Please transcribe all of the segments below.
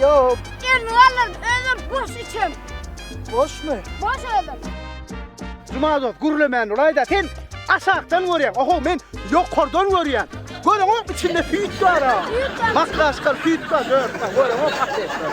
Ýok. Elini galdyr, özüm boş içem. Boşmy? Boş özüm. Juma dost, gürlemän bolaý-da, sen aşakdan görýäň, oho, men ýokardan görýän. Görüňok, içinde süýt bar-a. Süýt bar. Makdaşkal süýt bar, dört bar. Görüňok, ateş bar.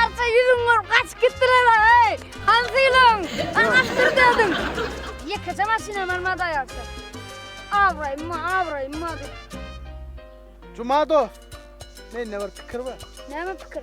Arça ýüzüňi görüp gaçyp gitdiler-ä, heý! Hansynyň? Aňa syr dädin. Ýekeje maşynam barmady aýalça. Abraýyma, abraýyma diýip. Juma dost, mende bir pikir bar. Näme pikir?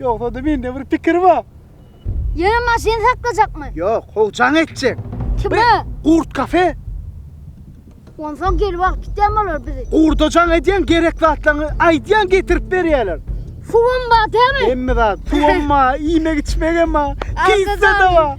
Ýogsa-da mende bir pikir bar. Ýöne maşyny saklajakmy? Ýok, howjaň etjek. Kime? Gurt kafe. Onsoň gelip alyp gitýän bolar bizi. Gurda jaň edýän gerek zatlaryňy aýdýaň getirip berýärler. Suwam bar dämi? Hemme zat. Suwam bar, iýmek-içmegem bar. Pizza-da bar.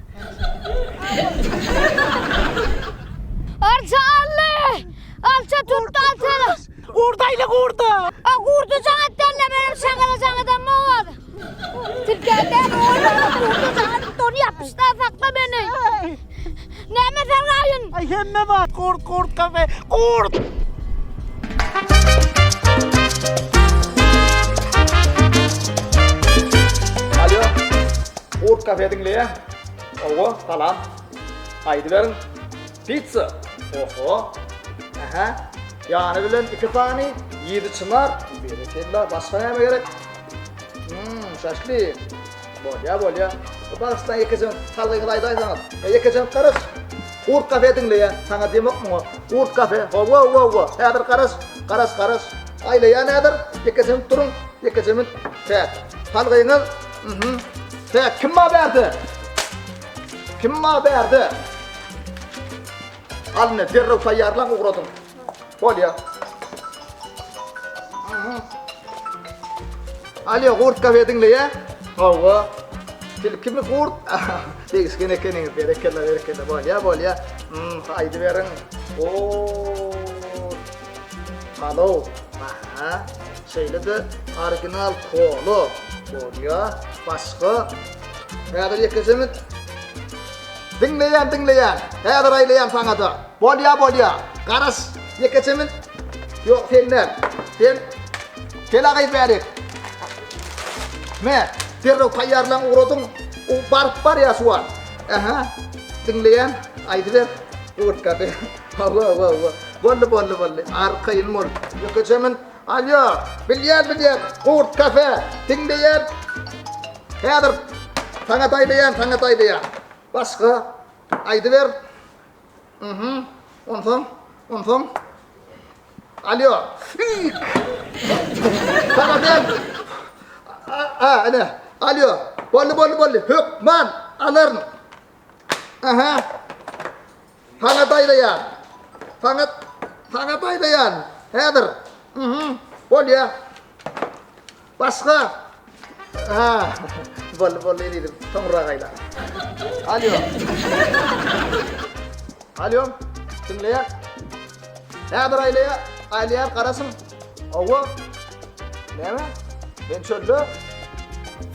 Arça ally! Arça tutdy arçany! Gurdaýly gurda! A gurda jaň etdänle benim şagala jaň eden bowaz. Tirkende gurda jaň edip donu ýapyşda sakla meni. Näme sen gaýyn? Ay hemme wagt gurt gurt kafe gurt! Urt kafe diňleýä owo salam aýdyberiň pizza oho ähä ýany bilen iki sany ýedi çynar berekella başga näme gerek hmm şaşlyk bolýa bolýa bagyşlaň ýekejen salgyňyzy aýdaýsaňyz ýekejen garaş urt kafe diňleýä saňa diýemok muňa urt kafe owo owo owo häzir garaş garaş garaş aýlaýa näder ýekejen turuň ýekejen çäk salgyňyz Mhm. Sen kim ma berdi? Kim ma berdi? Al ne derrew taýýarlan ugradyň. Bolýa. Mhm. Alýa gurt gawe diňle ya. Hawa. Sil kimi gurt? Degişgen ekeniňiz berekella berekella bolýa bolýa. Mhm. Aýdy beriň. Oo. Halo, aha, şeýle-de original kolo bolýa, başga. Häzir ýekeşemiz Diňleýän, diňleýän, häzir aýlaýan saňa-da. Bolýa, bolýa, garaş, ýekeşemiz Ýok, sen däl, sen Helagyz bärik. Me, derrew taýýarlan ugradyň, u baryp barýa şu wagt. Aha, diňleýän, aýdyber, gurtka. Hawa wa wa. Boldy boldy boldy. Arkaýyn bol. Ýeke çemyn. Alýo. Bilýän bilýän. Gurt kafe. Diňleýän. Häzir. Saňa daýdaýan saňa daýdaýan. Başga. Aýdyber. Mhm. Onsoň. Onsoň. Alýo. Fik. Saňa däl. A a ene. Alýo. Boldy boldy boldy. Hökman. Alaryn. Aha. Saňa daýraýan. Saňa, saňa daýraýan. Häzir. Mhm. Bolýa. Başga. Ha. Boldy, boldy, elizim. Soňra gaýla. Alýo. Alýo. Diňleýär. Häzir aýlaýa, aýlaýar, garasyn. Hawa. Näme? Ben çölde.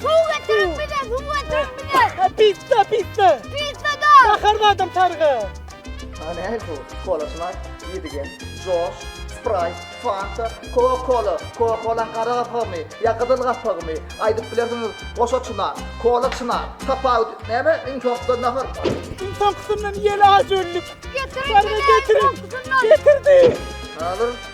Suw getirin bize, suw getirin bize. Ha, pizza, pizza. Pizza da. Bahar badam sarga. Ha, ne bu? Kola şuna yedigen. Josh, Sprite, Fanta, Coca-Cola. Coca-Cola qara gapagmy? Ya qızıl gapagmy? Aydıp bilersiňiz. Goşa çuna, kola çuna. Tapawut. Näme? Iň soňkuda nahar. Iň soňkusyndan ýel ajöllik. Getirin bize, iň soňkusyndan. Getirdi. Hazır.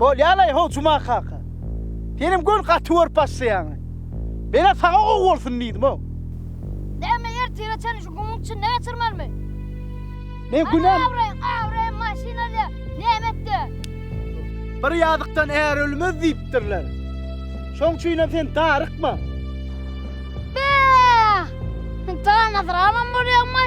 Bol yalay ho cuma kaka. Senin gön katı görüp başlayan. Bela sana o olsun dedim o. Deme yer tire çen şu gumun içinde geçirmeli mi? Men günem. Gawry, gawry maşynada näme etdi? Bir ýazykdan är ölmez diýipdirler. Şoň üçin hem sen darykma. Be! Sen taýan atralam bolýaňmy?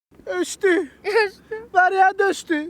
Öçdi. Öçdi. Barýa döşdi.